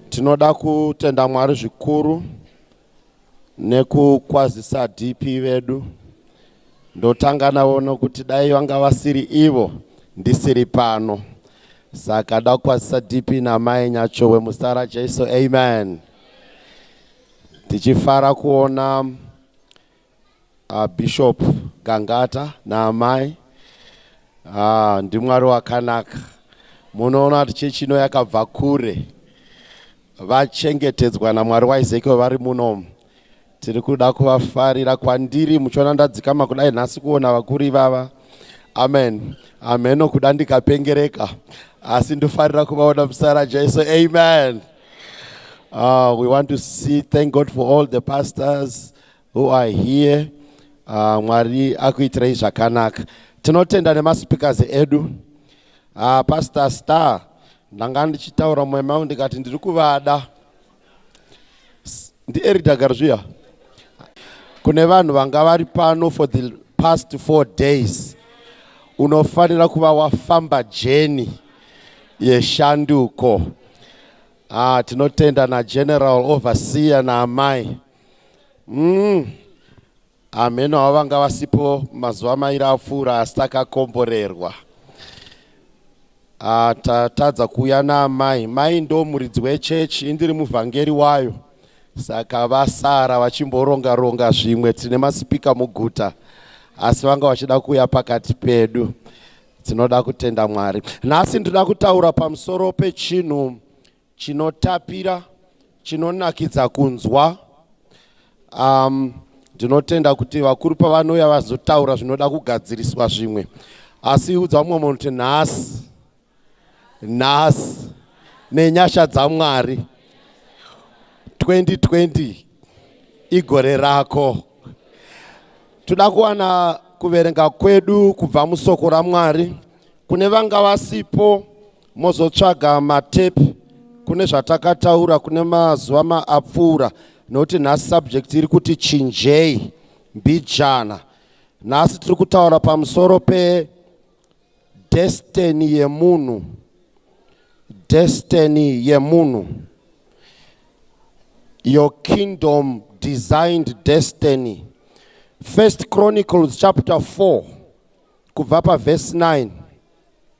Tinoda kutenda Mwari zvikuru nekukwazisa DP vedu. Ndotanga navo nokuti dai vanga vasiri ivo ndisiri pano. Saka dakwazisa DP namai Nyachowe musara Jesu. Amen. Tichifara kuona Ah, Bishop Gangata naamai ah, ndimwari wakanaka. Munoona kuti chechi ino yakabva kure, vachengetedzwa namwari waEzekiel vari munomu. Tiri kuda kuvafarira kwandiri, muchiona ndadzikama kudai nhasi kuona vakuru ivava. Amen, ameno kuda ndikapengereka, asi ndofarira kuvaona muzita raJesu. Amen. Uh, we want to see, thank God for all the pastors. who are here uh, mwari akuitirei zvakanaka tinotenda nemaspeakers edu uh, pastor star ndanga ndichitaura mumwe mangu ndikati ndiri kuvada ndieridagaro zviya kune vanhu vanga vari pano for the past four days unofanira kuva wafamba jeni yeshanduko ah, tinotenda nageneral overseer naamai na mm. hameno havo vanga vasipo mazuva mairi apfuura asi takakomborerwa ah, tatadza kuuya naamai mai ndo muridzi wechechi indiri muvhangeri wayo saka vasara vachimboronga ronga zvimwe tine masipika muguta asi vanga vachida kuuya pakati pedu tinoda kutenda mwari nhasi ndinoda kutaura pamusoro pechinhu chinotapira chinonakidza kunzwa um, ndinotenda kuti vakuru pavanouya vazotaura zvinoda kugadziriswa zvimwe asi udza umwe munhu kuti nhasi nhasi nenyasha dzamwari 2020 igore rako toda kuwana kuverenga kwedu kubva musoko ramwari kune vanga vasipo mozotsvaga matepe kune zvatakataura kune mazuva maapfuura nokuti nhasi subject iri kuti chinjei mbijana nhasi tiri kutaura pamusoro pedestiny yemunhu destiny yemunhu your kingdom designed destiny first chronicles chapter 4 kubva pavhesi 9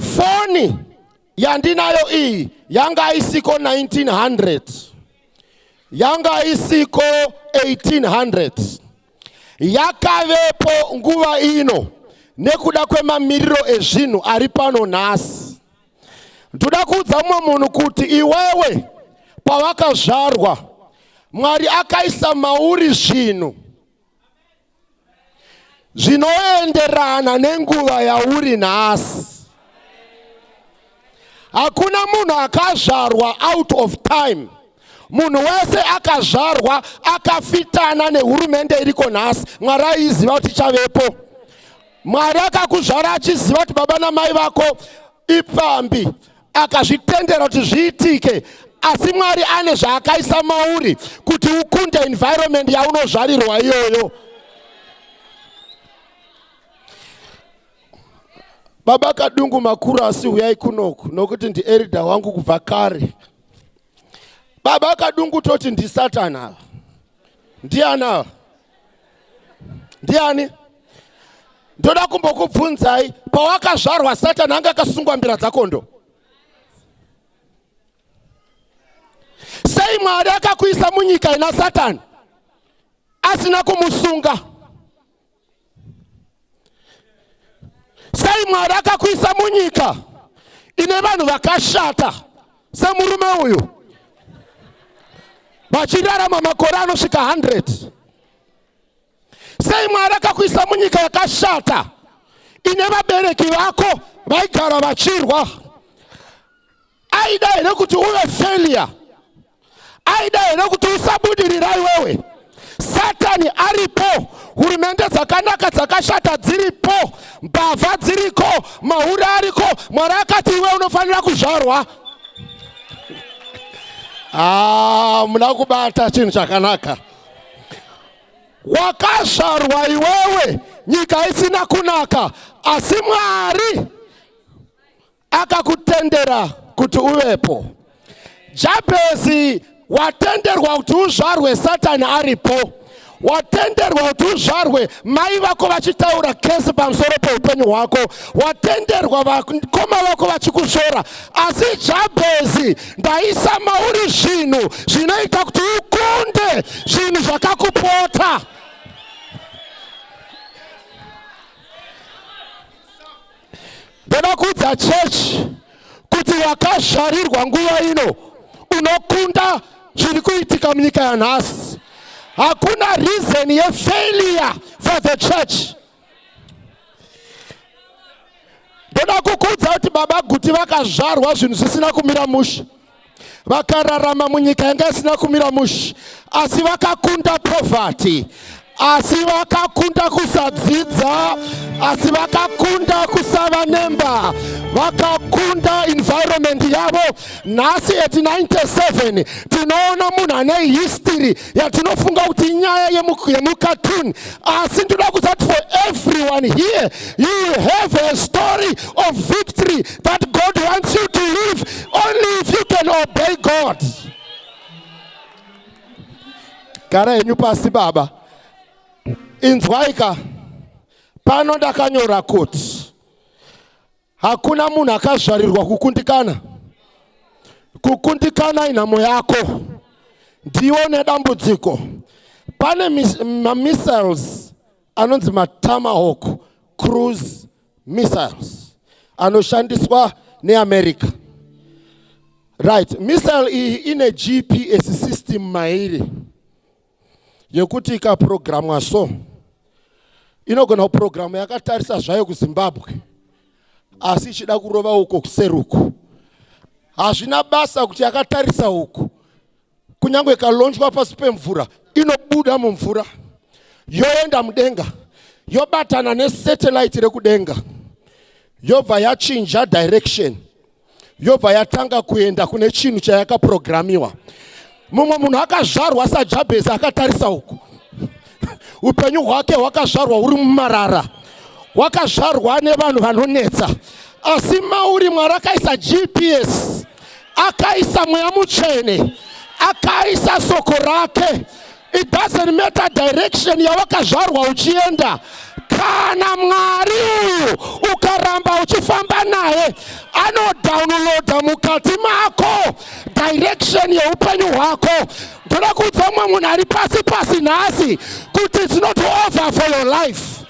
Foni yandinayo iyi yanga isiko 1900 yanga isiko 1800 yakavepo nguva ino nekuda kwemamiriro ezvinhu ari pano nhasi ndoda kuudza mumwe munhu kuti iwewe pawakazvarwa mwari akaisa mauri zvinhu zvinoenderana nenguva yauri nhasi. Hakuna munhu akazvarwa out of time. Munhu wese akazvarwa akafitana nehurumende iriko nhasi. Mwari aiziva kuti ichavepo. Mwari akakuzvara achiziva kuti baba namai vako ipfambi akazvitendera kuti zviitike asi mwari ane zvaakaisa mauri kuti ukunde environment yaunozvarirwa iyoyo baba kadungu makuru asi huyai kunoku nokuti ndierida wangu kubva kare Baba kadungu toti ndisatan ava. Ndiani ava? Ndiani? Ndoda kumbokubvunzai pawakazvarwa Satan anga akasungwa mbira dzakondo. Sei Mwari akakuisa munyika ina Satan asina kumusunga? Sei Mwari akakuisa munyika ine vanhu vakashata semurume uyu vachirarama makore anosvika 100? Sei Mwari akakuisa munyika yakashata ine vabereki vako vaigara vachirwa? Aida here kuti uve failure? aida here kuti usabudirira iwewe satani aripo hurumende dzakanaka dzakashata dziripo mbavha dziriko mahure ariko mwari akati iwe unofanira kuzvarwa ah, muna kubata chinhu chakanaka wakazvarwa iwewe nyika isina kunaka asi mwari akakutendera kuti uvepo. Jabhezi watenderwa kuti uzvarwe Satani aripo, watenderwa kuti uzvarwe mai vako vachitaura kesi pamusoro peupenyu hwako, watenderwa vakoma vako vachikushora. Asi Jabhezi, ndaisa mauri zvinhu zvinoita kuti ukunde zvinhu zvakakupota. Ndoda kuudza church kuti wakazvarirwa nguva ino unokunda zviri kuitika munyika yanhasi. Hakuna reason yefailure for the church. Ndoda kukuudza kuti baba Guti vakazvarwa zvinhu zvisina kumira mushe. vakararama munyika yanga isina kumira mushe asi vakakunda poverty asi vakakunda kusadzidza asi vakakunda kusava nemba vakakunda environment yavo nhasi at 97 tinoona munhu ane history yatinofunga kuti nyaya yemukatuni asi ndoda kuzati for everyone here you have a story of victory that god wants you to live only if you can obey god gara henyu pasi baba inzwaika pano ndakanyora kuti Hakuna munhu akazvarirwa kukundikana. Kukundikana inhamo yako. Ndiwe une dambudziko. Pane mamissiles anonzi matomahawk cruise missiles anoshandiswa neamerica right missile iyi ine gps system mairi yekuti ikaprogramwa so inogona kuprogramwa yakatarisa zvayo kuzimbabwe asi ichida kurova uko kuseruku hazvina basa kuti yakatarisa uku kunyange ikalonjwa pasi pemvura inobuda mumvura yoenda mudenga yobatana nesatellite rekudenga yobva yachinja direction yobva yatanga kuenda kune chinhu chayakaprogramiwa mumwe munhu akazvarwa sajabhezi akatarisa uku upenyu hwake hwakazvarwa huri mumarara hwakazvarwa nevanhu vanonetsa asi mauri mwari akaisa gps akaisa mweya mutsvene akaisa soko rake It doesn't matter direction yawakazvarwa uchienda kana mwari uyu ukaramba uchifamba naye anodownloada mukati mako direction yeupenyu hwako ndoda kuudza mumwe munhu ari pasi pasi nhasi kuti it's not over for your life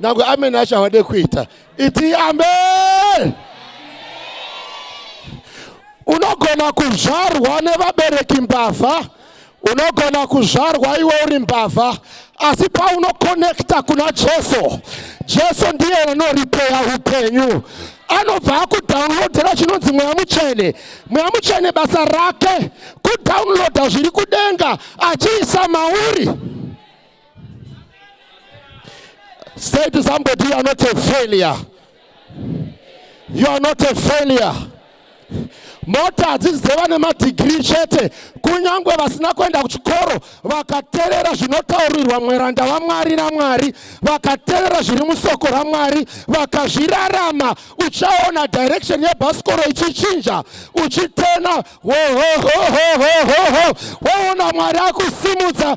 nangwe ameni acho havade kuita iti amen unogona kuzvarwa nevabereki mbavha unogona kuzvarwa iwe uri mbavha asi paunokonekta kuna jesu jesu ndiye anoripeya upenyu anobva akudownloadera chinonzi mweya mutsvene mweya mutsvene basa rake kudownloada zviri kudenga achiisa mauri Say to somebody, you are not a failure. You are not a failure. mota hadzisi dzevane madhigiri chete kunyange vasina kuenda kuchikoro vakaterera zvinotaurirwa mweranda vamwari namwari vakaterera zviri musoko ramwari vakazvirarama uchaona direction yebhasikoro ichichinja uchitena woona mwari akusimudza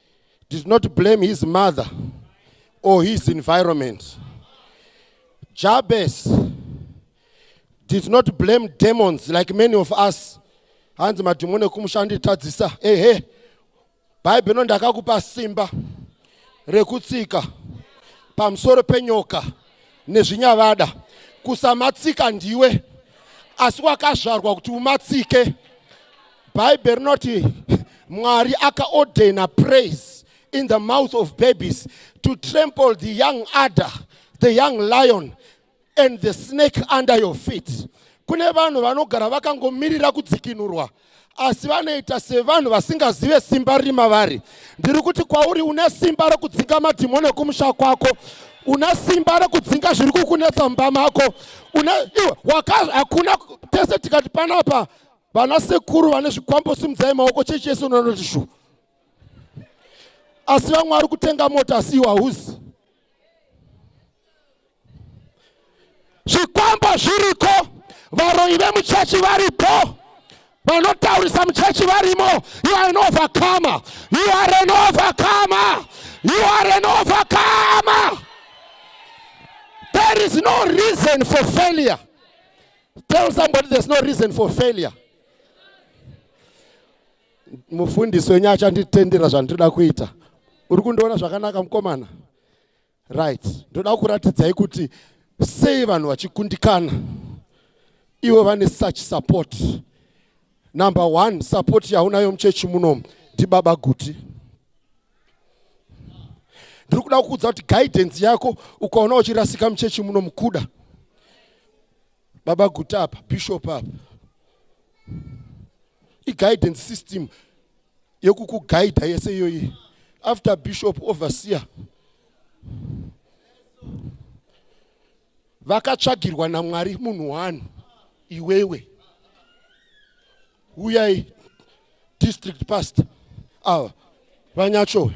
did not blame his mother or his environment. Jabez did not blame demons like many of us. Hanzi madhimoni ekumushanditadzisa. Hey, hey. Bible no ndakakupa simba rekutsika pamusoro penyoka nezvinyavada kusamatsika ndiwe asi wakazvarwa kuti umatsike bhaibheri rinoti mwari akaordena praise in the mouth of babies to trample the young adder the young lion and the snake under your feet kune vanhu vanogara vakangomirira kudzikinurwa asi vanoita sevanhu vasingazive simba riri mavari ndiri kuti kwauri une simba rekudzinga madhimoni ekumusha kwako una simba rekudzinga zviri kukunetsa mumba mako hakuna tese tikati panapa Vana sekuru vane zvikwambo simudzai maoko chechi yese unonoti shu. Asi vamwe vari kutenga mota asi iwe hauzi. Zvikwambo zviriko, varoyi vemuchechi varipo, vanotaurisa muchechi varimo. You are an overcomer. You are an overcomer. You are an overcomer. There is no reason for failure. Tell somebody there's no reason for failure. Mufundisi wenyu achanditendera zvandinoda kuita. Uri kundiona zvakanaka mukomana? Right. Ndoda kuratidzai kuti sei vanhu vachikundikana. Ivo vane such support. Number one, support yaunayo muchechi munomu ndibaba Guti. ndiri kuda kukuudza kuti guidance yako ukaona uchirasika muchechi muno mukuda baba guta apa bishop apa iguidance system yekukugaidha yese iyoyi after bishop overseer vakatsvagirwa namwari munhu one iwewe uyai district past ava vanyachowe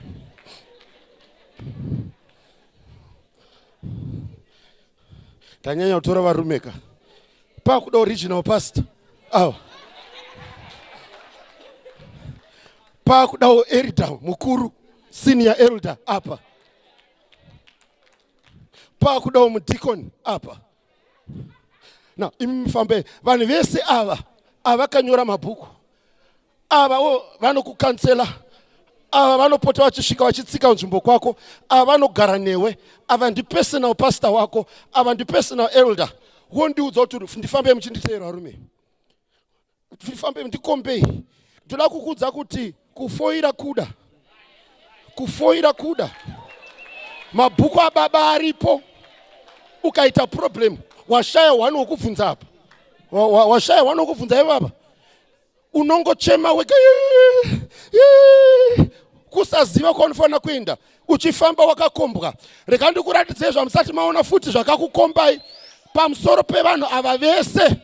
tanyanya kutora varume ka pakuda original past awa pakudawo erida mukuru senior elder apa pakudawo mudhikoni apa na imi mufambei vanhu vese ava avakanyora mabhuku ava wo vanokukansela ava vanopota vachisvika vachitsika nzvimbo kwako ava vanogara newe ava ndipersonal pastor wako ava ndipersonal elder wondiudza kuti ndifambei muchinditeerwa rume ndifambe ndikombei ndoda kukudza kuti kufoira kuda kufoira kuda mabhuku ababa aripo ukaita problem washaya wani wokubvunza apa washaya wani wokubvunza ivava unongochema wega kusaziva kwaunofanira kuenda uchifamba wakakombwa rega ndikuratidzei zvamusati maona futi zvakakukombai pamusoro pevanhu ava vese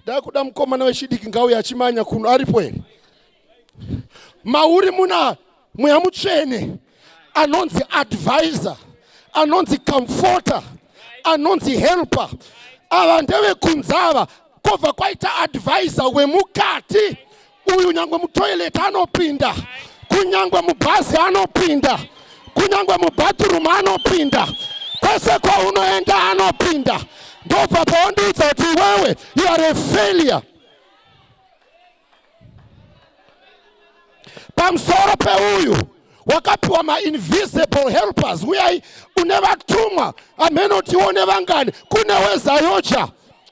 Dakuda mukomana wechidiki ngauye achimanya kuno aripo here? Mauri muna mweya mutsvene anonzi advisor, anonzi comforter, anonzi helper. Ava ndevekunzava kobva kwaita advisor wemukati. Uyu nyangwe mutoilet anopinda, kunyangwe mubhazi anopinda, kunyangwe mubathroom anopinda, kwese kwaunoenda anopinda. Ndobva pawandiudza kuti iwewe you are a failure. Pamusoro peuyu wakapiwa mainvisible helpers uyai une vatumwa amhenotiwo nevangani kune wezayoja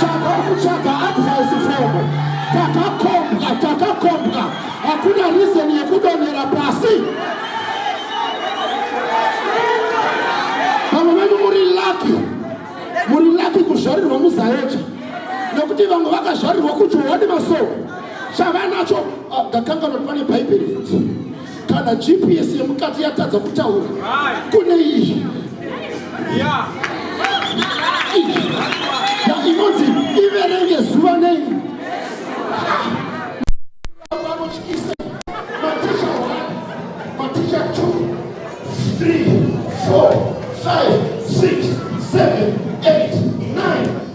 Chava kutsvaga advice from takakombwa takakombwa hakuna reason yekudonhera pasi vamwe venyu muri laki muri laki kuzvarirwa muzaeja nekuti vamwe vakazvarirwa kujohani masoko chavanacho ah, ndakanga noti pane bhaibheri futi kana gps yemukati yatadza kutaura kune iyi inonzi iverenge zuva nei Four, five, six, seven, eight, nine.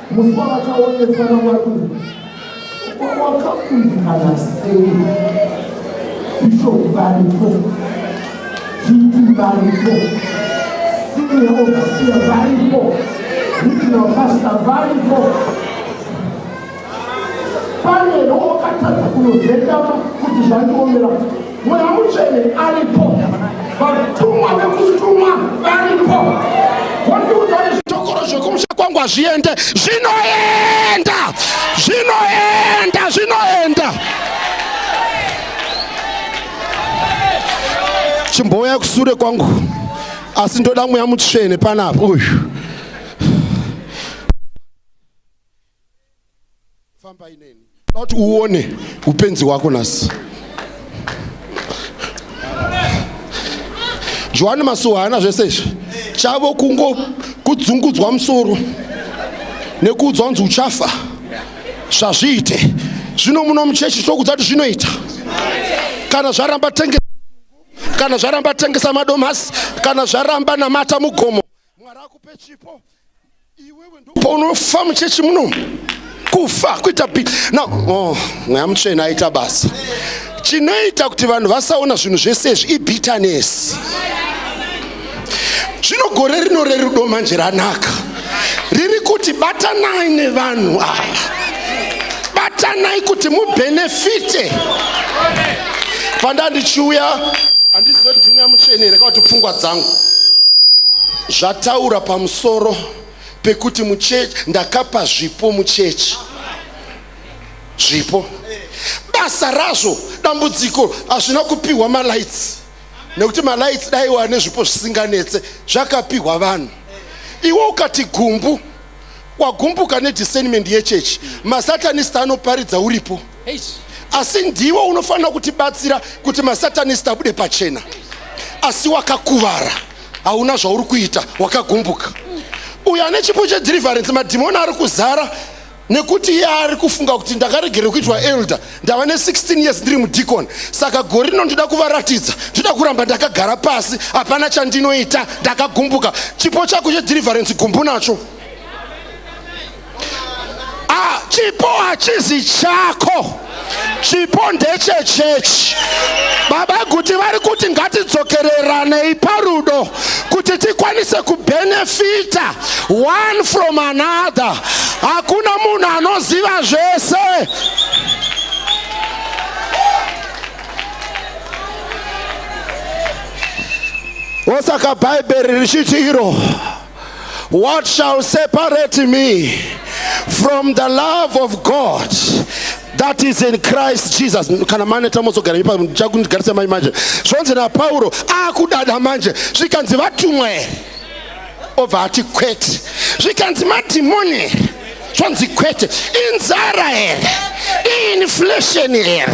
musi wavakaonetswa namwari kuti wakakundikana sei bishop varipo chipi varipo senior overseer varipo regional pastor varipo pane rokatadza kunozendama kuti zvandiomera mweya mutsvene aripo vatumwa vekutumwa varipo wandiudza zvitokoro zvekumusha kwangu hazviende zvinoenda zvinoenda zvinoenda chimbouya kusure kwangu asi ndoda mweya mutsvene panapa uyu famba ineni kuti uone upenzi hwako nasi johani masuwa haana zvese izvi chavo kungo kudzungudzwa musoro nekuudzwa kunzi uchafa zvazviite zvino muno muchechi tokudza kuti zvinoita kana zvaramba tengesa kana zvaramba tengesa madomasi kana zvaramba namata mugomo Mwari akupe chipo iwewe ndopaunofa muchechi muno kufa kuita pi na oh, mweya mutsvene aita basa chinoita kuti vanhu vasaona zvinhu zvese izvi ibitanesi zvino gore rino rerudo manje ranaka riri kuti batanai nevanhu ava batanai kuti mubhenefite pandandichiuya handizive kuti ndimweya mutsvene here kakuti pfungwa dzangu zvataura pamusoro pekuti muchechi ndakapa zvipo muchechi zvipo basa razvo dambudziko hazvina kupiwa malights nekuti malights daiwa nezvipo zvisinganetse zvakapihwa vanhu iwe ukati gumbu wagumbuka nediscernment yechurch masatanist anoparidza uripo asi ndiwe unofanira kutibatsira kuti masatanist abude pachena asi wakakuvara hauna zvauri kuita wakagumbuka uyo ane chipo chedeliverance madhimoni ari kuzara nekuti iye ari kufunga kuti ndakaregere kuitwa elder ndava ne16 years ndiri mudikoni saka gore rino ndoda kuvaratidza ndoda kuramba ndakagara pasi hapana chandinoita ndakagumbuka chipo chako chedhiriverance gumbu nacho ah, chipo hachizi chako chipo ndechechechi baba guti vari kuti ngatidzokereranei parudo kuti tikwanise kubenefita one from another hakuna munhu anoziva zvese osaka bhaibheri richiti iro what shall separate me from the love of god that is in christ jesus kana maneta mozogara ipa ndichakundigarisa mai manje zvonzi napauro akudada manje zvikanzi vatumwa here obva ati kwete zvikanzi madhimoni here zvonzi kwete inzara here iinflation here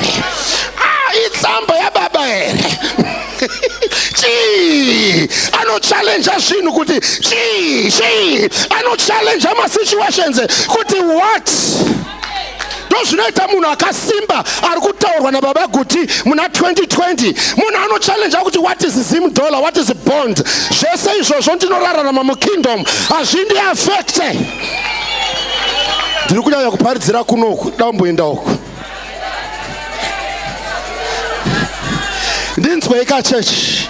ah, itsamba yababa here chii anochallenja zvinhu kuti chii chii anochallenja masituations kuti what ndozvinoita munhu akasimba ari kutaurwa nababa guti muna 2020 munhu anochallenja kuti what is zim dollar what is bond zvese izvozvo ndinorararama mukingdom hazvindi affecte ndiri kunyanya kuparidzira kunoku damboenda uku ndinzweika chechi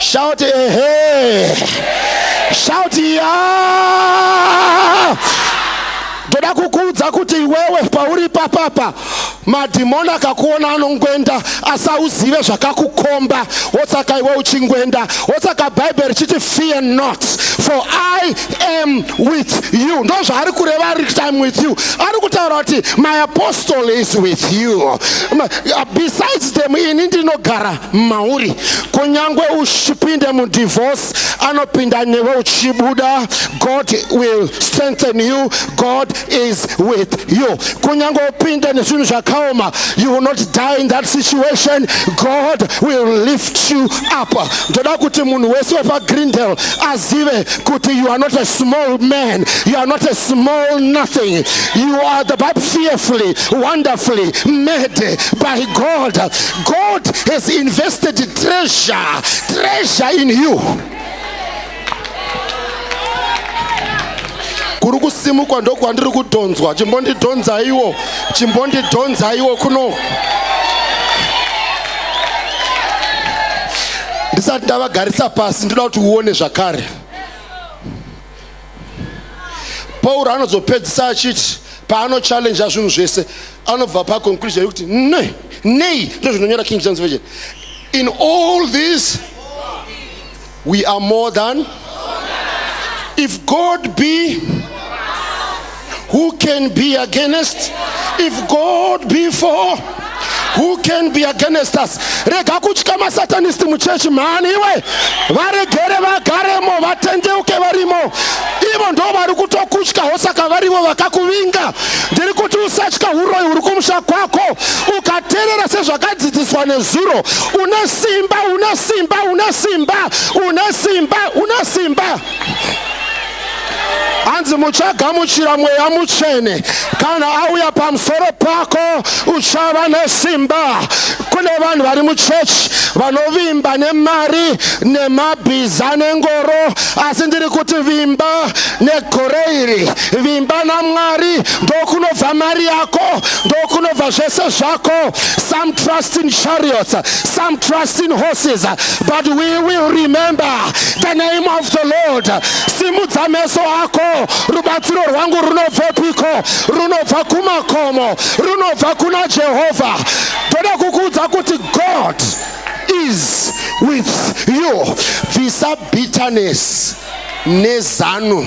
Shout ehe. Shout ya. Ndoda kukuudza kuti iwewe pauri papapa madhimoni akakuona anongwenda asi auzive zvakakukomba wosaka iwe uchingwenda wosaka bhaibheri richiti fear not for i am with you ndo zvaari kureva ari kuti im with you ari kutaura kuti my apostle is with you besides them ini ndinogara mauri kunyange uchipinde mudivorce anopinda newe uchibuda god will strengthen you god is with you kunyange upinde nezvinhu zvakaoma you will not die in that situation god will lift you up ndoda kuti munhu wese wepagrindel azive kuti you are not a small man you are not a small nothing you are the bible fearfully wonderfully made by God. God has invested treasure, treasure in you. kuri kusimukwa ndokwandiri kudhonzwa chimbondidhonzaiwo chimbondidhonzaiwo kuno ndisati ndavagarisa pasi ndinoda kuti uone zvakare pauro anozopedzisa achiti paanochallenja zvinhu zvese anobva paconclusion yekuti ne nei ndozvinonyora king james virgin in all these we are more than if god be who can be against if god be for who can be against us rega kutya masatanist muchechi mhani iwe varegere vagaremo vatendeuke varimo ivo ndo vari kutokutyawo saka varivo vakakuvinga ndiri kuti usatya uroyi uri kumusha kwako ukaterera sezvakadzidziswa nezuro une simba une simba une simba une simba une simba, une simba. hanzi muchagamuchira mweya mutsvene kana auya pamusoro pako uchava nesimba kune vanhu vari muchechi vanovimba nemari nemabhiza nengoro asi ndiri kuti vimba negore iri vimba namwari ndokunobva mari yako ndokunobva zvese zvako some trust in chariots some trust in horses but we will remember the name of the lord simudza meso ako rubatsiro rwangu runobvepiko runobva kumakomo runobva kuna jehovha ndoda kukuudza kuti god is with you bvisa bitterness nezanu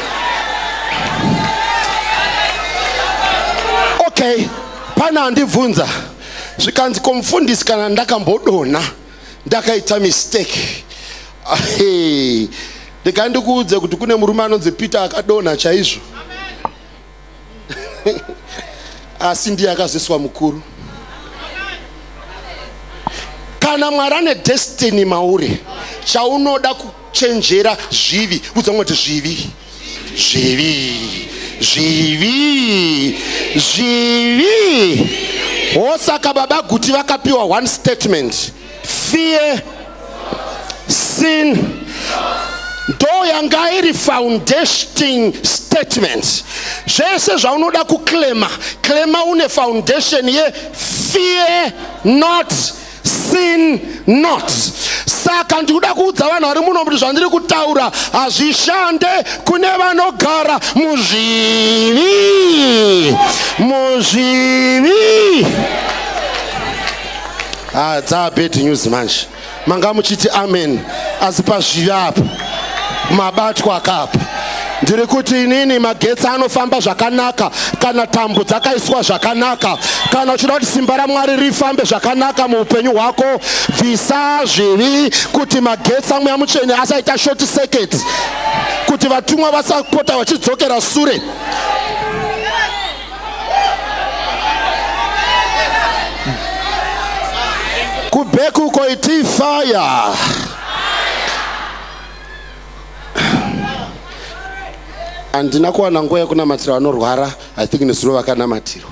okay pane andibvunza zvikanzi komufundisi kana ndakambodonha ndakaita mistake ndikandikuudze kuti kune murume anonzi peter akadonha chaizvo asi ndiye akazoiswa mukuru kana mwari ane destiny mauri chaunoda kuchenjera zvivi udza kuti zvivi zvivi zvivi zvivi hosaka baba guti vakapiwa one statement fear sin ndo yanga iri foundation statement zvese zvaunoda kuclema clema une foundation ye fear not sin not saka ndikuda kuudza vanhu vari muno kuti zvandiri kutaura hazvishande kune vanogara muzvivi muzvivi Ah, dzaa bad news manje manga muchiti amen asi pazvivi apa mabatwa kapa ndiri kuti inini magetsi anofamba zvakanaka kana tambo dzakaiswa zvakanaka kana uchida kuti simba ramwari rifambe zvakanaka muupenyu hwako bvisa zvivi kuti magetsi amweya mutsvene asaita short circuit kuti vatumwa vasapota vachidzokera sure Kubeku koiti fire. Andina kuwana nguva yekunamatirwa vanorwara, I think nezuro vakanamatirwa.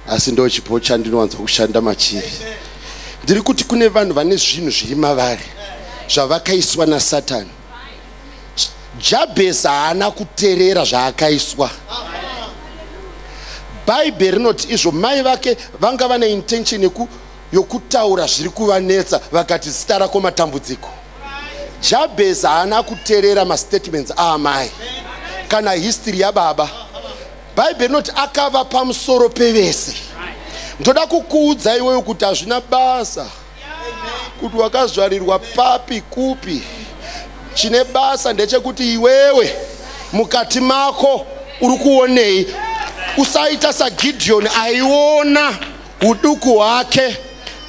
Asi ndo chipo chandinowanza kushanda machiri. Ndiri kuti kune vanhu vane zvinhu zviri mavari zvavakaiswa naSatani. Jabhezi haana kuterera zvaakaiswa. Bhaibheri rinoti izvo mai vake vanga vane intention yeku yokutaura zviri kuvanetsa vakati zita rako matambudziko. Jabhezi haana kuterera mastatements aamai kana history yababa. Bhaibheri rinoti akava pamusoro pevese. Ndoda kukuudza iwewe kuti hazvina basa. kuti wakazvarirwa papi kupi chine basa ndechekuti iwewe mukati mako uri kuonei usaita sagideoni aiona uduku hwake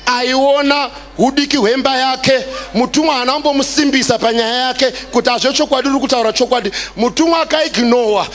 aiona udiki hwemba yake mutumwa haana kumbomusimbisa panyaya yake kuti hazve chokwadi uri kutaura chokwadi mutumwa akaignowa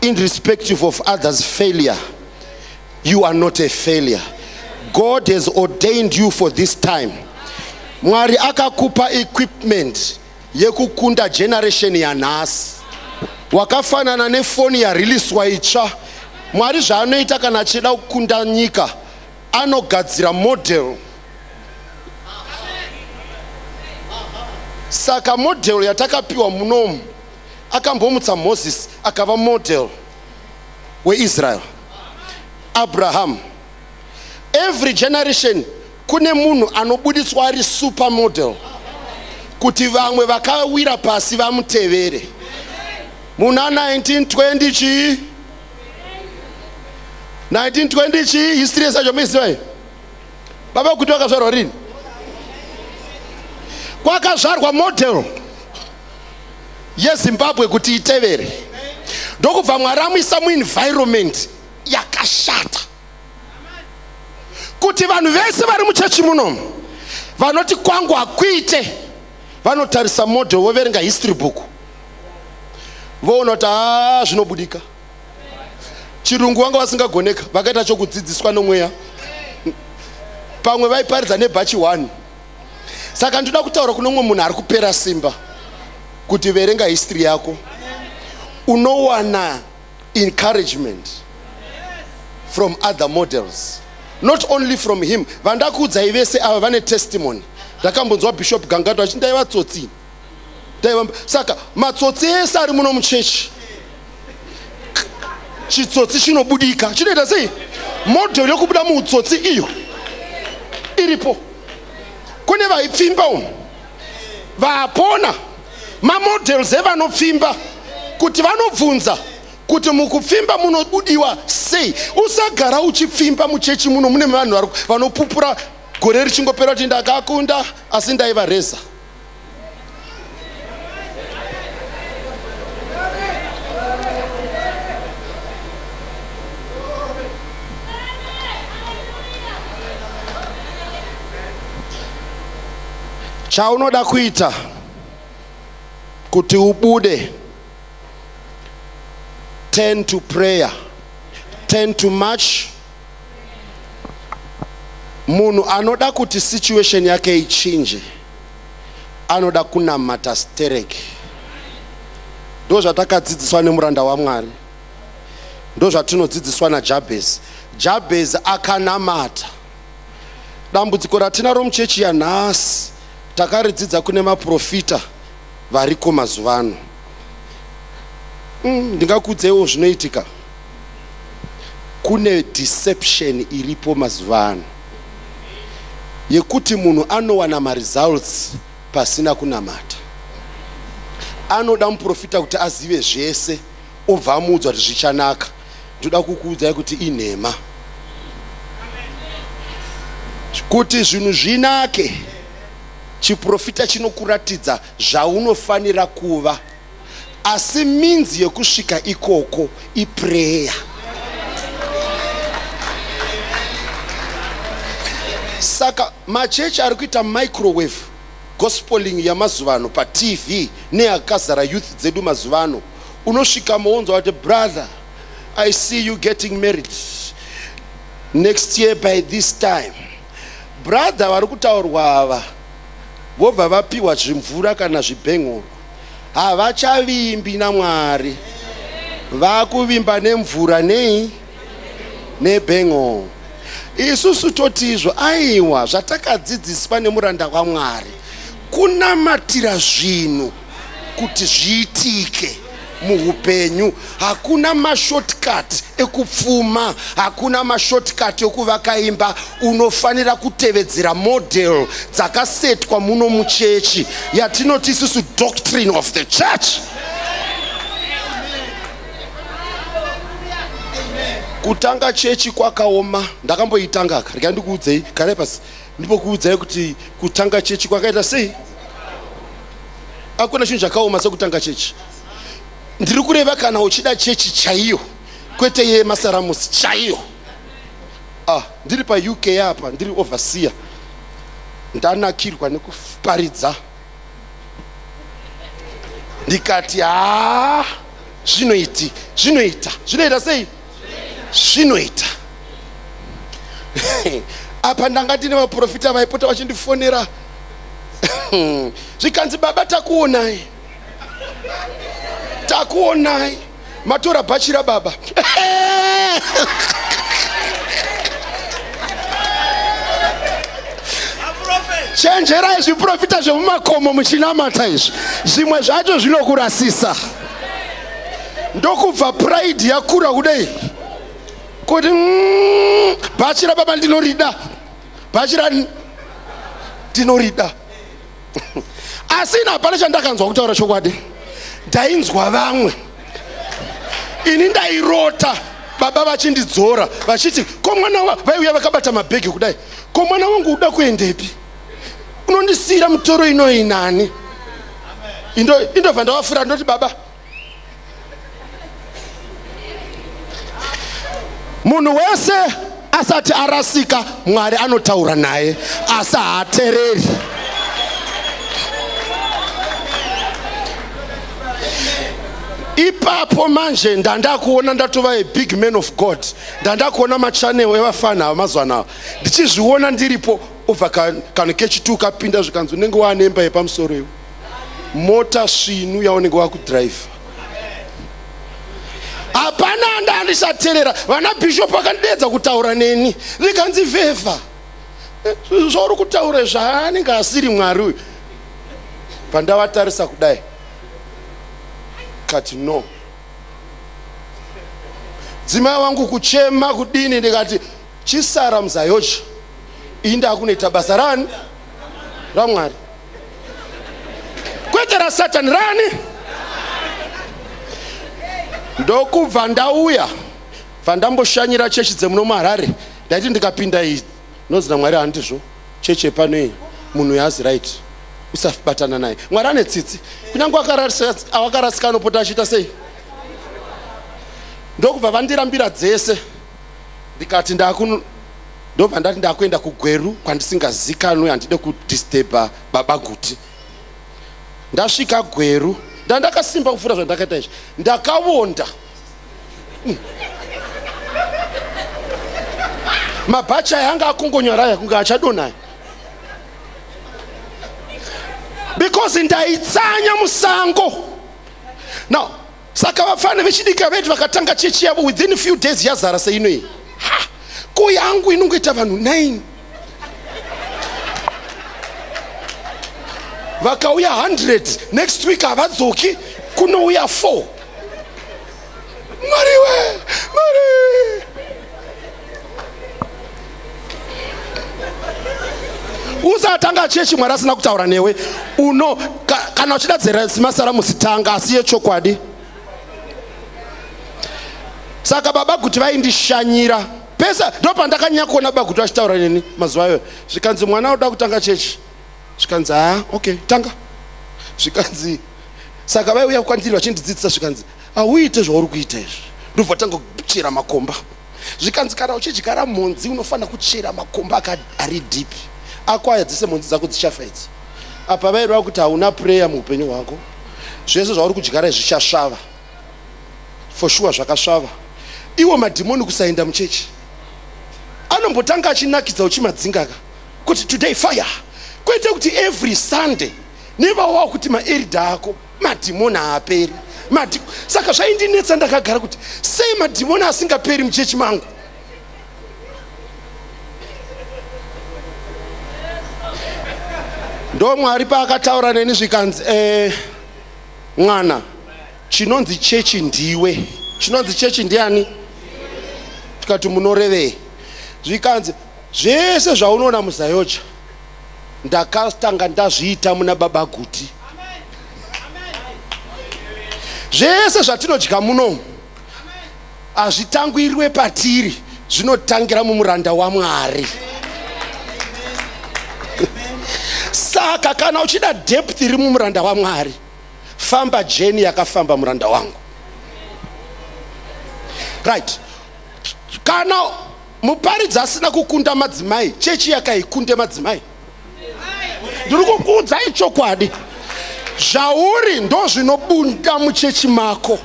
irrespective of others failure you are not a failure god has ordained you for this time mwari akakupa equipment yekukunda generation yanhasi wakafanana nefoni yariliswa itsva mwari zvaanoita kana achida kukunda nyika anogadzira model saka model yatakapiwa munomu akambomutsa moses akava model weisrael abraham every generation kune munhu anobuditswa ari super model kuti vamwe vakawira pasi vamutevere muna 1920 chii 1920 chii history yesacho muizivayo baba kuti vakazvarwa rini kwakazvarwa model yezimbabwe kuti itevere ndokubva mwari amuisa muenvironment yakashata kuti vanhu vese vari muchechi munomu vanoti kwangu hakuite vanotarisa model voverenga history book voona kuti haa zvinobudika chirungu vanga vasingagoneka vakaita chokudzidziswa nomweya pamwe vaiparidza nebhachi one saka ndinoda kutaura kune umwe munhu ari kupera simba kuti verenga history yako unowana encouragement from other models not only from him vandakuudzai vese ava vane testimony ndakambonzwa bishop gangato achindai vatsotsi taiva saka matsotsi ese ari muno muchechi chitsotsi chinobudika chinoita sei modhel yokubuda muutsotsi iyo iripo kune vaipfimba uno vapona mamodels evanopfimba kuti vanobvunza kuti mukupfimba munobudiwa sei usagara uchipfimba muchechi muno mune vanhu vanopupura gore richingopera kuti ndakakunda asi ndaivareza chaunoda kuita kuti ubude turn to prayer turn to march Munhu anoda kuti situation yake ichinje anoda kunamata stereki. Ndo zvatakadzidziswa nemuranda waMwari, ndo zvatinodzidziswa naJabhezi. Jabhezi akanamata. Dambudziko ratinaro muchechi yanhasi takaridzidza kune maprofita variko mazuva ano. Mm, ndingakuudzeiwo zvinoitika. Kune deception iripo mazuva ano yekuti munhu anowana maresults pasina kunamata. Anoda muprofita kuti azive zvese obva amuudza kuti zvichanaka. Ndoda kukuudzai kuti inhema. Kuti zvinhu zvinake chiprofita chinokuratidza zvaunofanira kuva asi means yekusvika ikoko iprayer. Saka machechi ari kuita microwave gospeling yamazuva ano patv neakazara youth dzedu mazuva ano, unosvika mounza wati brother I see you getting married next year by this time. Brother vari kutaurwa ava vobva vapiwa zvimvura kana zvibhengoro. Havachavimbi naMwari. Vakuvimba nemvura nei? Nebengo. Isusu totizvo aiwa zvatakadzidziswa nemuranda waMwari kunamatira zvinhu kuti zviitike. muhupenyu hakuna mashortcut ekupfuma hakuna mashortcut ekuvaka imba unofanira kutevedzera model dzakasetwa muno muchechi yatinoti isusu doctrine of the church kutanga chechi kwakaoma ndakamboitanga rega ndikuudzei garai pasi Ndipokuudzai kuti kutanga chechi kwakaita sei? Hakuna chinhu chakaoma sekutanga chechi. Ndiri kureva kana uchida chechi chaiyo kwete yemasaramusi chaiyo. Ah, ndiri paUK apa, ndiri overseer. Ndanakirwa nekuparidza. Ndikati haa ah, zvinoiti, zvinoita, zvinoita sei? zvinoita apa ndanga ndine vaprofita vaipota vachindifonera zvikanzi baba takuonai takuonai matora bhachi rababa chenjerai zviprofita zvemumakomo muchinamata izvi zvimwe zvacho zvinokurasisa ndokubva pride yakura kudei kuti mm, bhachi rababa ndinorida bhachi rani ndinorida asi ini hapana chandakanzwa kutaura chokwadi ndainzwa vamwe ini ndairota baba vachindidzora vachiti ko mwana vaiuya vakabata mabhegi kudai ko mwana wangu uda kuendepi unondisiira mutoro inoyi nani indobva ndavafura ndoti baba munhu wese asati arasika mwari anotaura naye asi haatereri ipapo manje ndandakuona ndatova a big man of god ndandakuona machanel evafana ava mazuva anava ndichizviona ndiripo obva kana kechitu kapinda zvikanzi unenge waane imba yepamusoro iwe mota svinu yaunenge wakudhiraivha hapana anda andisaterera vana bishop vakandideedza kutaura neni rikanzi vhevha eh, zvauri kutaura zvaanenge asiri mwari uyu pandavatarisa kudai kati no dzimai wangu kuchema kudini ndikati Chisara mzayoji iyi ndakunoita basa rani ramwari kwete rasatani rani ndokubva ndauya bva ndamboshanyira chechi dzemuno muharare ndaiti ndikapinda iyi nonzi namwari handizvo chechi yepano iyi munhu yaazi right usabatana naye mwari ane tsitsi kunyange awakarasika anopota achiita sei ndokubva vandirambira dzese ndikati ndakun ndobva ndati ndakuenda kugweru kwandisingazikanwe handide kudisturba baba guti ndasvika gweru ndandakasimba kupfuura zvandakaita izvi ndakavonda mm. mabhachi aya anga akongonyara aya kunge achadonaya because ndaitsanya musango now saka vafana vechidika vedu vakatanga chechi yavo within few days yazara seino iyi ko yangu inongoita vanhu 9 vakauya 100 next week havadzoki kunouya 4 mariwe mari usatanga chechi mwari asina kutaura newe uno ka, kana uchida dzerazimasara musitanga asi yechokwadi saka baba kuti vaindishanyira pese ndo pandakanyanya kuona baba kuti vachitaura neni mazuva ayo zvikanzi mwana anoda kutanga chechi zvikanzi haa okay tanga zvikanzi saka vaiuya kwandiri vachindidzidzisa zvikanzi hauite zvauri kuita izvi ndobva tanga kuchera makomba zvikanzi kana uchidyara mhonzi unofanira kuchera makomba ari deep ako aya dzese mhonzi dzako dzichafa idzi apa vaireva kuti hauna prayer muupenyu hwako zvese zvauri kudyara izvi zvichasvava for sure zvakasvava iwo madhimoni kusaenda muchechi anombotanga achinakidza uchimadzinga ka kuti today fire kwete kuti every sunday nevawa kuti maerida ako madhimoni haaperi Madi... saka zvaindinetsa ndakagara kuti sei madhimoni asingaperi muchechi mangu ndo mwari paakataura neni zvikanzi eh, mwana chinonzi chechi ndiwe chinonzi chechi ndiani tikati munorevei zvikanzi zvese zvaunoona muzayocha ndakatanga ndazviita muna baba guti zvese zvatinodya muno hazvitangwirwe patiri zvinotangira mumuranda wamwari saka kana uchida depth iri mumuranda wamwari famba jeni yakafamba muranda wangu right kana Muparidzi asina kukunda madzimai, chechi yake haikunde madzimai. Ndiri kukuudzai chokwadi, zvauri ndozvinobunda muchechi mako.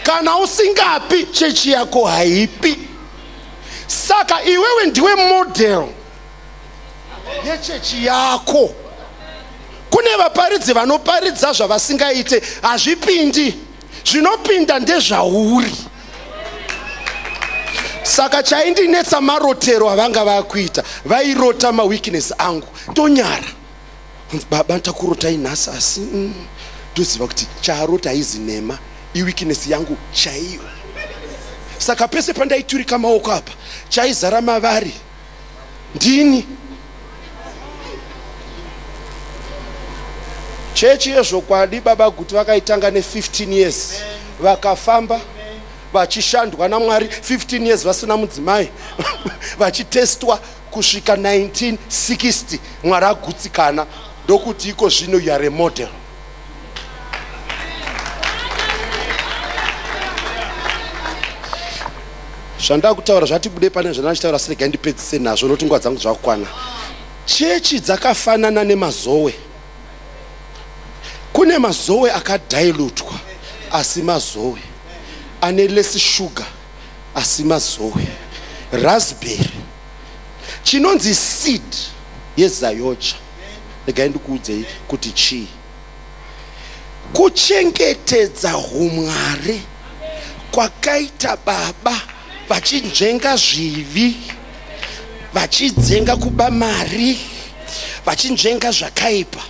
Kana usingapi, chechi yako haipi. Saka iwewe ndiwe model yechechi yako. Kune vaparidzi vanoparidza zvavasingaite, hazvipindi. zvinopinda ndezvauri saka chaindinetsa marotero avanga vakuita vairota maweakness angu ndonyara baba takurotai nhasi asi mm, ndoziva kuti chaarota haizi nhema iweakness yangu chaiyo saka pese pandaiturika maoko apa chaizara mavari ndini chechi yezvokwadi baba guti vakaitanga ne15 years vakafamba vachishandwa namwari 15 years vasina mudzimai vachitestwa kusvika 1960 mwari agutsikana ndokuti iko zvino you are a model zvandakutaura zvatibude pane zvandachitaura asi regai ndipedzise nazvo noti nguva dzangu dzakukwana chechi dzakafanana nemazowe kune mazowe akadailutwa asi mazowe ane less sugar asi mazowe raspberry chinonzi seed yezayocha regai ndikuudzei kuti chii kuchengetedza humwari kwakaita baba vachinzvenga zvivi vachidzenga kuba mari vachinzvenga zvakaipa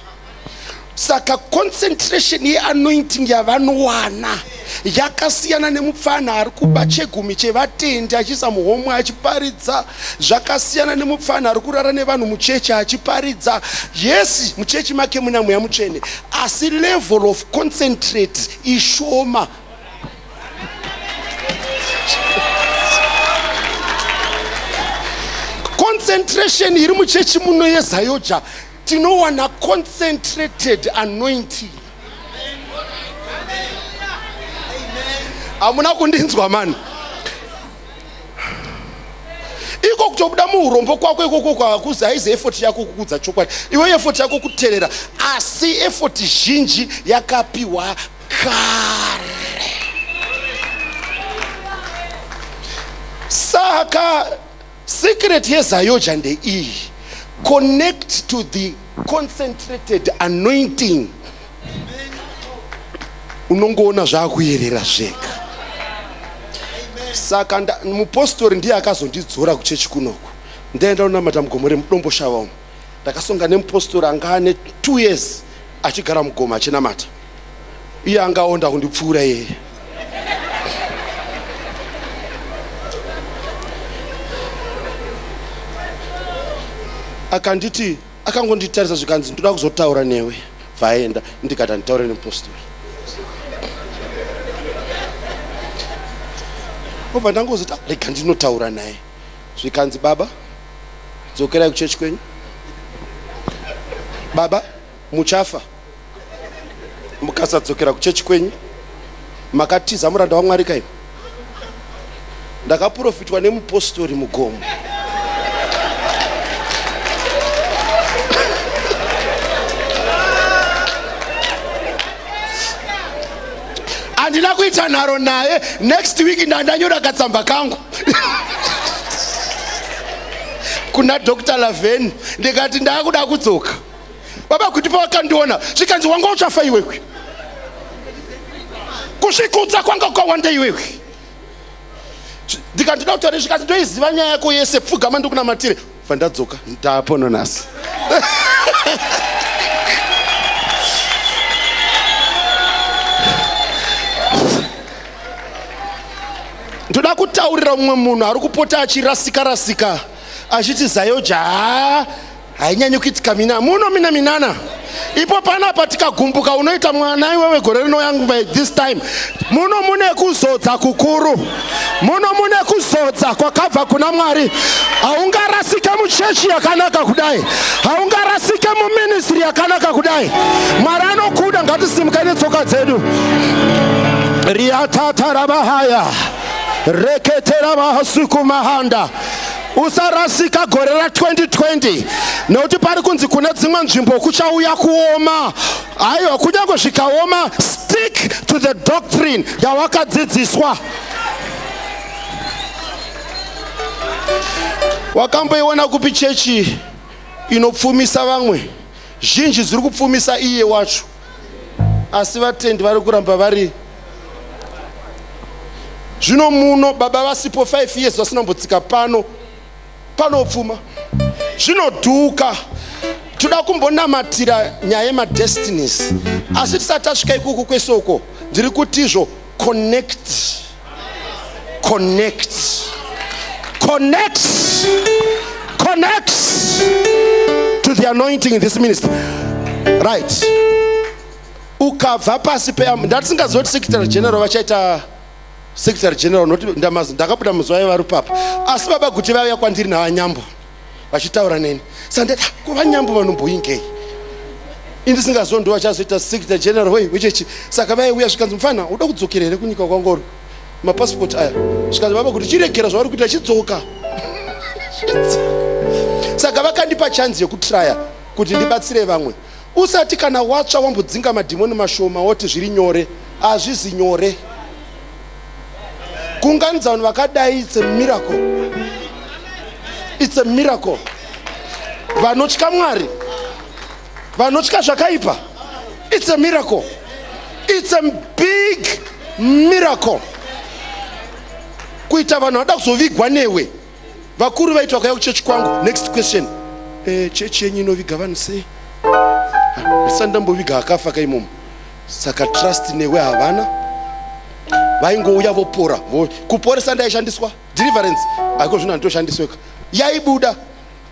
saka concentration yeanointing yavanowana yakasiyana nemupfana ari kuba chegumi chevatendi achiisa muhomwe achiparidza zvakasiyana nemupfana ari kurara nevanhu muchechi achiparidza yes muchechi make muna mweya mutsvene asi level of concentrate ishoma concentration iri muchechi muno yezayoja tinowana concentrated anointing hamuna kundinzwa mani iko kutobuda muurombo kwako ikoko kwakuzi haizi efoti yako kukudza chokwadi iwe efoti yako kuterera asi efoti zhinji yakapiwa kare saka Secret yezayoja ndeiyi. Connect to the concentrated anointing. Unongoona zvakuyerera zvega. Saka mupostori ndiye akazondidzora kuchechi kunoku. Ndaenda unamata mugomore mudombo shava umu. Ndakasonga nemupostori anga ane 2 years achigara mugoma achinamata. iye angaonda kundipfuura yeye akanditi akangonditarisa zvikanzi ndoda kuzotaura newe bvaenda ndikati anditaure nemupostori obva ndangozoti ah, rega ndinotaura naye zvikanzi baba dzokerai kuchechi kwenyu baba Muchafa mukasadzokera kuchechi kwenyu makatiza muranda wamwari kaini ndakaprofitwa nemupostori mugomo handina kuita nharo naye next week ndandanyora katsamba kangu kuna dr laveni ndikati ndaakuda kudzoka baba kuti pawakandiona zvikanzi wanga uchafa iwewe kuzvikudza kwanga ukawanda iwewe ndikanzi ndoda kutaura zvikanzi ndoiziva nyaya yako yese pfugama ndikunamatire bva ndadzoka ndapo nonasi ndoda kutaurira mumwe munhu ari kupota achirasika rasika achiti zayoja haa hainyanyi kuitika mina muno mina minana ipo panapa tikagumbuka unoita mwana iwewe gore rinouya by this time muno mune kuzodza kukuru muno mune kuzodza kwakabva kuna mwari haungarasike muchechi yakanaka kudai haungarasike muministri yakanaka kudai mwari anokuda ngatisimukei netsoka dzedu riatatarabahaya reketerabahasukumahanda usarasika gore ra 2020 nekuti pari kunzi kune dzimwe nzvimbo kuchauya kuoma aiwa kunyange zvikaoma stick to the doctrine yawakadzidziswa wakamboiona kupi chechi inopfumisa vamwe zhinji dziri kupfumisa iye wacho asi vatendi vari kuramba vari zvino muno baba vasipo 5 years vasina kumbotsika pano panopfuma zvinodhuka toda kumbonamatira nyaya yemadestinies asi tisati tasvika ikuku kwese uko ndiri kutizvo connect connect connect connect to the anointing in this ministry right ukabva pasi pe ndatisingaziva kuti secretary general vachaita secretary general noti ndakabuda muzuva yevarupapa asi baba kuti vauya kwandiri navanyambo vachitaura neni sandati kuva nyambo vanomboingei indisingazo ndo vachazoita secretary general wei wechechi saka vaiuya zvikanzi mufana uda kudzokera here kunyika kwangoro mapasipoti aya zvikanzi vava kuti chiregera zvavari kuita chidzoka saka vakandipa chanzi yekutraya kuti ndibatsire vamwe usati kana watsva wambodzinga madhimoni mashoma woti zviri nyore hazvizi nyore kuunganidza vanhu vakadai it's a miracle it's a miracle vanotya mwari vanotya zvakaipa it's a miracle it's a big miracle kuita vanhu vada kuzovigwa newe vakuru vaiti vakauya kuchechi kwangu next question eh, chechi yenyu inoviga vanhu sei ndisati ndamboviga akafa kaimomo saka trust newe havana vaingouya vopora kuporesa ndaishandiswa deliverance aiko zvino handitoshandisweka yaibuda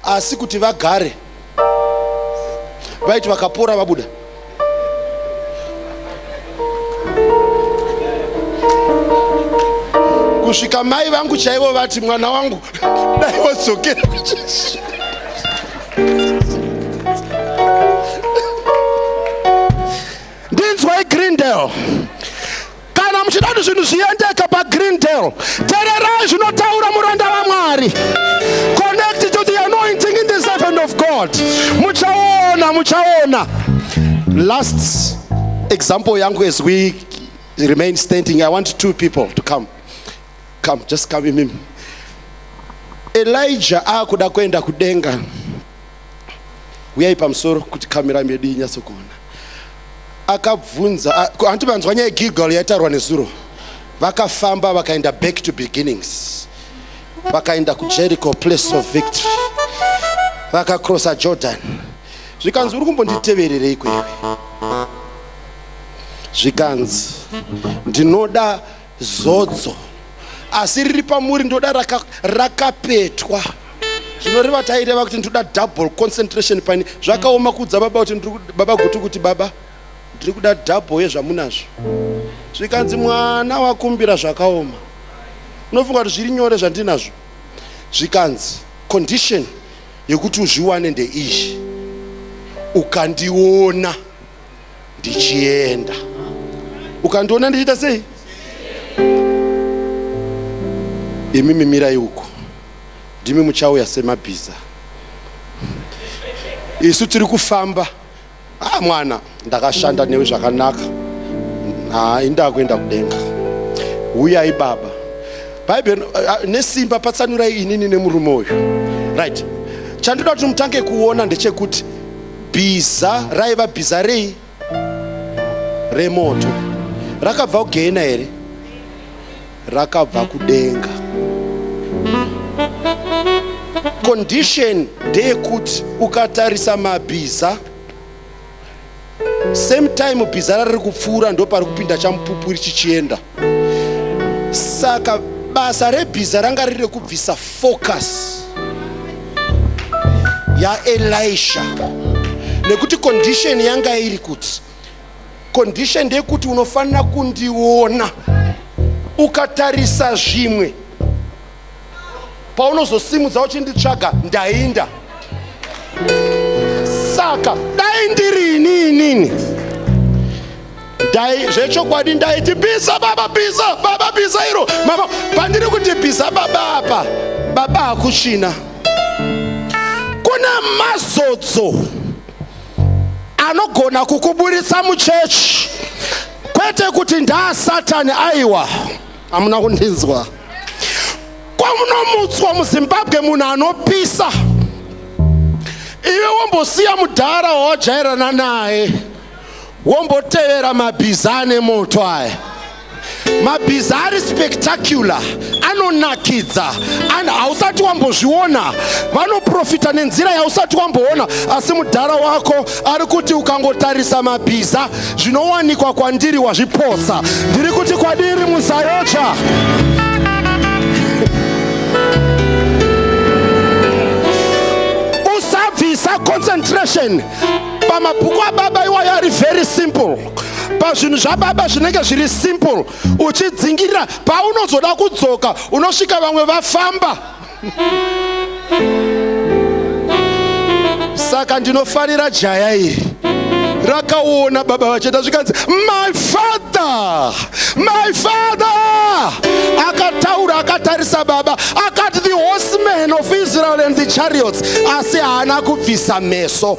asi kuti vagare vaiti vakapora vabuda kusvika mai vangu chaivo vati mwana wangu dai wadzokera kuchechi ndinzwai greendale kana muchida kuti zvinhu zviendeke pagreendale tererai zvinotaura muranda vamwari connect to the anointing in the servant of god muchaona muchaona last example yangu as we remain standing i want two people to come come just come imimi elijah akuda kuenda kudenga huyai pamusoro kuti kamera medu inyatso kuona akabvunza hanti vanzwa nyaya gilgal yaitarwa nezuro vakafamba vakaenda back to beginnings vakaenda kujericho place of victory vakacrossa jordan zvikanzi uri kumbonditevererei kweiwe zvikanzi ndinoda Zodzo asi riri pamuri ndoda raka, rakapetwa zvinoreva taireva kuti ndoda double concentration paine zvakaoma kuudza baba kuti ndiri ku- baba gutu kuti baba ndiri kuda double yezvamunazvo zvikanzi mwana wakumbira zvakaoma unofunga kuti zviri nyore zvandinazvo zvikanzi condition yekuti uzviwane ndeiyi ukandiona ndichienda ukandiona ndichiita sei imi mimirai uko ndimi muchauya semabhiza isu tiri kufamba ah mwana ndakashanda newe zvakanaka ha indaa kuenda kudenga huyai baba bhaibheri ah, nesimba patsanurai inini nemurume uyu right chandinoda kuti mutange kuona ndechekuti bhiza raiva bhiza rei remoto rakabva kugehena here rakabva kudenga condition ndeyekuti ukatarisa mabhiza same time bhiza rariri kupfuura ndopari kupinda chamupupuri chichienda saka basa rebhiza ranga riri rekubvisa focus yaelisha nekuti condition yanga iri kuti condition ndeyekuti unofanira kundiona ukatarisa zvimwe paunozosimudza uchinditsvaga ndainda saka dai ndiri ini inini dai zvechokwadi ndaiti bhiza baba bhiza baba bhiza iro mama pandiri kuti bhiza baba apa baba hakuchina kuna mazodzo anogona kukuburitsa muchechi kwete kuti ndaasatani aiwa amuna kundinzwa kwamunomutswa muzimbabwe munhu anopisa iwe wombosiya mudhara wawajairana naye wombotevera mabhiza ane moto aya mabhiza ari spectacular anonakidza and hausati wambozviona vanoprofita nenzira yausati wamboona asi mudhara wako ari kuti ukangotarisa mabhiza zvinowanikwa kwandiri wazviposa ndiri kuti kwadiri musayotsva usabvisa concentration pamabhuku ababa iwayo ari very simple pazvinhu zvababa zvinenge zviri simple uchidzingirira paunozoda kudzoka unosvika vamwe vafamba saka ndinofarira jaya iri rakaona baba vachenda zvikanzi my father my father akataura akatarisa baba akati the horsemen of israel and the chariots asi haana kubvisa meso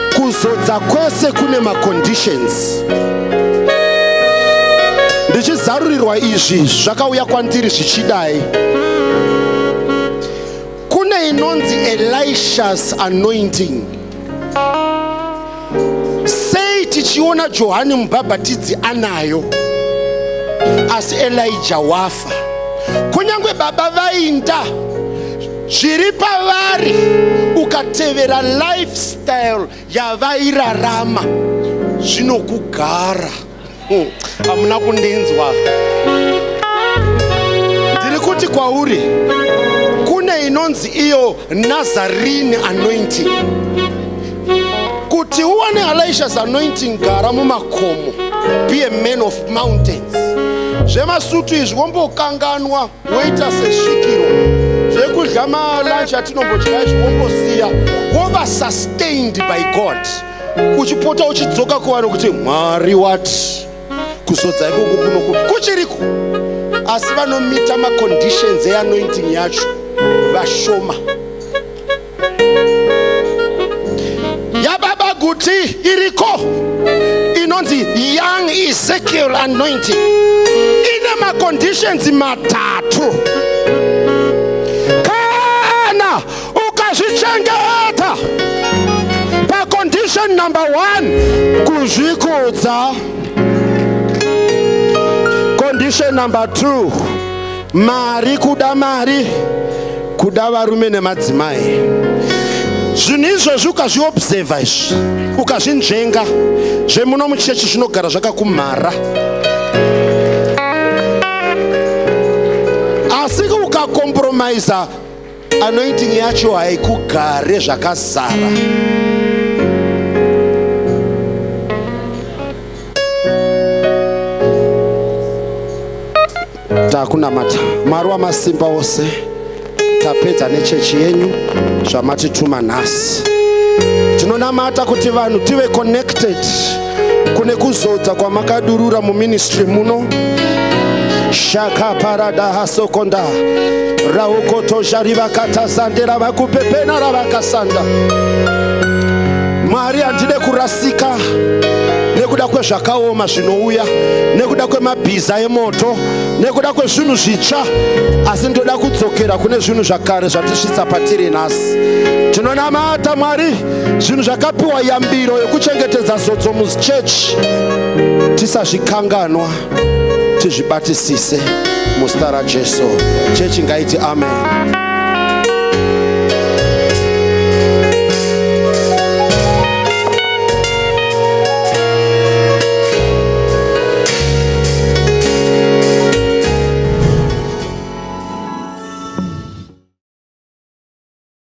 kuzodza kwese kune maconditions ndichizarurirwa izvi zvakauya kwandiri zvichidai kune inonzi elishas anointing sei tichiona johani mubhabhatidzi anayo asi elija wafa kunyange baba vainda zviri pavari ukatevera lifestyle yavairarama zvinokugara hmm, hamuna hmm, kundinzwa ndiri kuti kwauri kune inonzi iyo nazarini anointing kuti uwane alishas anointing gara mumakomo be a man of mountains zvemasutu izvi wombokanganwa woita sesvikiro zvekudya malunch atinombodya izvi wombosiya wova sustained by god uchipota uchidzoka kuvanhu kuti mwari wati kuzodza ikoko kunoku kuchiriko asi vanomita maconditions eanointing yacho vashoma yababa guti iriko inonzi young ezekiel anointing ine maconditions matatu kana ukazvichengeta pacondition number one kuzvikudza condition number two mari kuda mari kuda varume nemadzimai zvinhu izvozvi ukazviobserva izvi ukazvinzvenga zvemuno muchechi zvinogara zvakakumhara asi ukakompromisa anointing yacho haikugare zvakazara takunamata mwari wamasimba ose tapedza nechechi yenyu zvamatituma nhasi tinonamata kuti vanhu tive connected kune kuzodza kwamakadurura muministry muno shaka parada hasokonda raukotozha rivakatazandera vakupepena ravakasanda mwari handide kurasika nekuda kwezvakaoma zvinouya nekuda kwemabhiza emoto nekuda kwezvinhu zvitsva asi ndoda kudzokera kune zvinhu zvakare zvatisvitsa patiri nhasi tinonamata mwari zvinhu zvakapiwa yambiro yokuchengetedza zodzo muchechi tisazvikanganwa tizvibatisise muzita rajesu chechi ngaiti amen